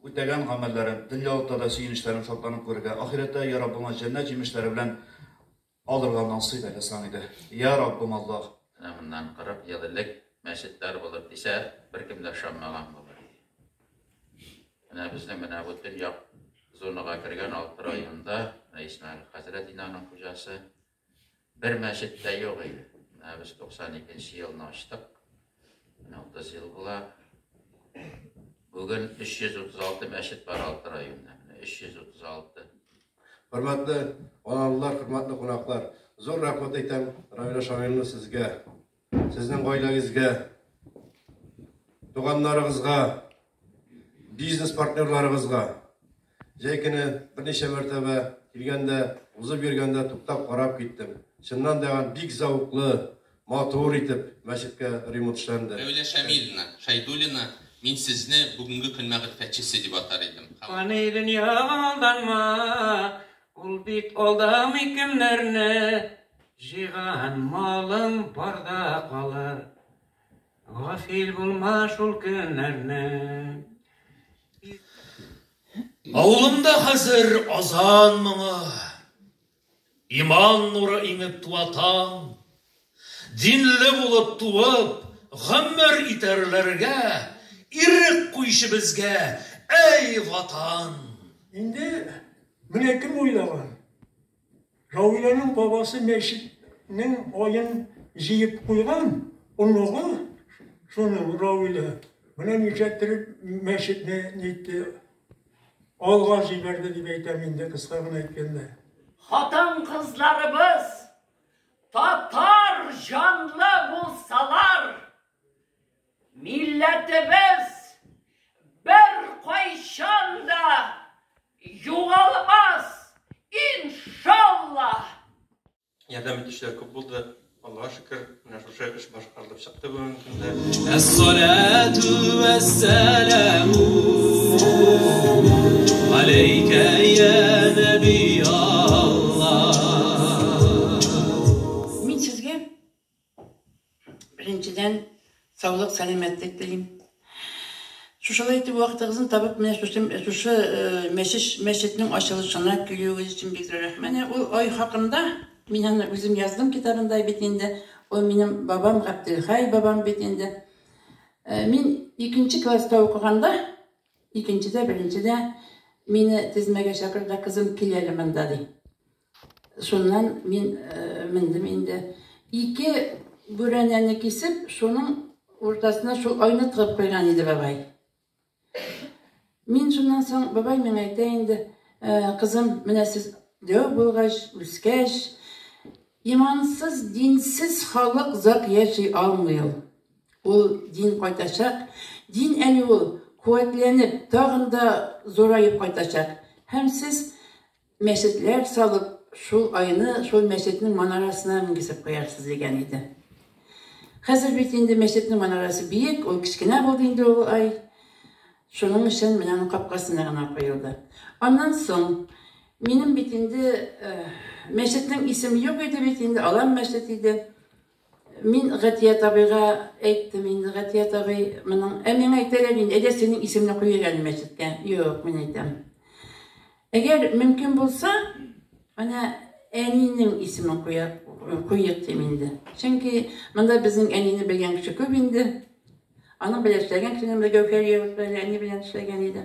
Үтәгән гамәлләрен, дөньялыкта да сөенечләрен шатланып күрергә, ахирәттә, йә Раббыма, җәннәт җимешләре белән алырга насыйп әйлә сан иде. Йә Раббым Аллаһ! Менә моннан кырык ел элек мәчетләр булыр дисә, беркем дә ышанмаган булыр иде. Менә безнең менә бу төньяк зонага кергән алты районда, менә Исмәгыйль хәзрәт инде аның хуҗасы, Бер мәчет тә юк иде. Менә без 92 нче елны ачтык. Менә 30 ел була. Бүген 336 мәчет бар алты районда. Менә 336. Хөрмәтле аналылар, хөрмәтле кунаклар, зур рәхмәт әйтәм районы шагыйрьне сезгә. Сезнең гаиләгезгә, туганнарыгызга, бизнес партнерларыгызга җәй көне берничә мәртәбә килгәндә, узып йөргәндә туктап карап киттем. Чыннан да бик зәвыклы, матур итеп мәчеткә ремонт эшләнде. Мәүлә Шамилина Шәйдуллина, Мин сезне бүгенге көн мәгърифәтчесе дип атар идем. Фани дөньяга алданма, ул бит алдамый кемнәрне. Җыйган малың барда калыр. Гафил булма шул көннәрне. Авылымда хәзер азан моңы. Иман нуры иңеп туа таң. Динле булып туып, гомер итәрләргә ирек куйчы безгә, әй Ватан! Инде менә кем уйлаган? Равиләнең бабасы мәчетнең аен җыеп куйган, оныгы шуның, Равилә, менә нишләттереп мәчетне нитте, алга җибәрде дип әйтәм инде, кыска гына әйткәндә. Хатын-кызларыбыз татар җанлы булсалар, Милләтебез беркайчан да югалмас, иншаллаһ! Ярдәм итүчеләр күп булды. Аллаһ шөкер, менә шушы эш башкарылып чыкты бүгенге көндә. Әссалату вәссәламу алейка я наби Аллаһ. Мин сезгә Беренчедән, саулык, сәламәтлек телим. Шушылай итеп вакытыгызны табып, менә шушы шушы мәчеш мәчетнең ачылышына килүегез өчен бик зур рәхмәт. Менә ул ай хакында мин аны үзем яздым китабында бит инде. Ул минем бабам Габделхай бабам бит инде. Мин икенче класста укыганда, икенчедә, беренчедә мине тезмәгә чакыр да, кызым, кил әле монда, ди. Шуннан мин мендем инде. Ике бүрәнәне кисеп, шуның уртасына шул айны тыгып куйган иде бабай. Мин шуннан соң бабай миңа әйтә инде, кызым, менә сез дәү булгач, үскәч, имансыз, динсез халык зак яши алмый ул. Ул дин кайтачак, дин әле ул куәтләнеп, тагын да зураеп кайтачак. Һәм сез Мәчетләр салып, шул айны шул мәчетнең манарасына менгезеп куярсыз, дигән иде. Хәзер бит инде мәчетнең манарасы биек, ул кечкенә булды инде ул ай. Шуның өчен менә аның капкасына гына куелды. Аннан соң минем бит инде мәчетнең исеме юк иде бит инде, Алан мәчет иде. Мин Гатият абыйга әйттем инде, Гатият абый, моның, ә миңа әйтәләр инде, әйдә синең исемне куйыйк әле мәчеткә. Юк, мин әйтәм. Әгәр мөмкин булса, менә әнинең исемен куяк, куйык дим инде. Чөнки монда безнең әнине белгән кеше күп инде. Аның белән эшләгән кешенең бер Гәүһәр Яуз белән әни белән эшләгән иде.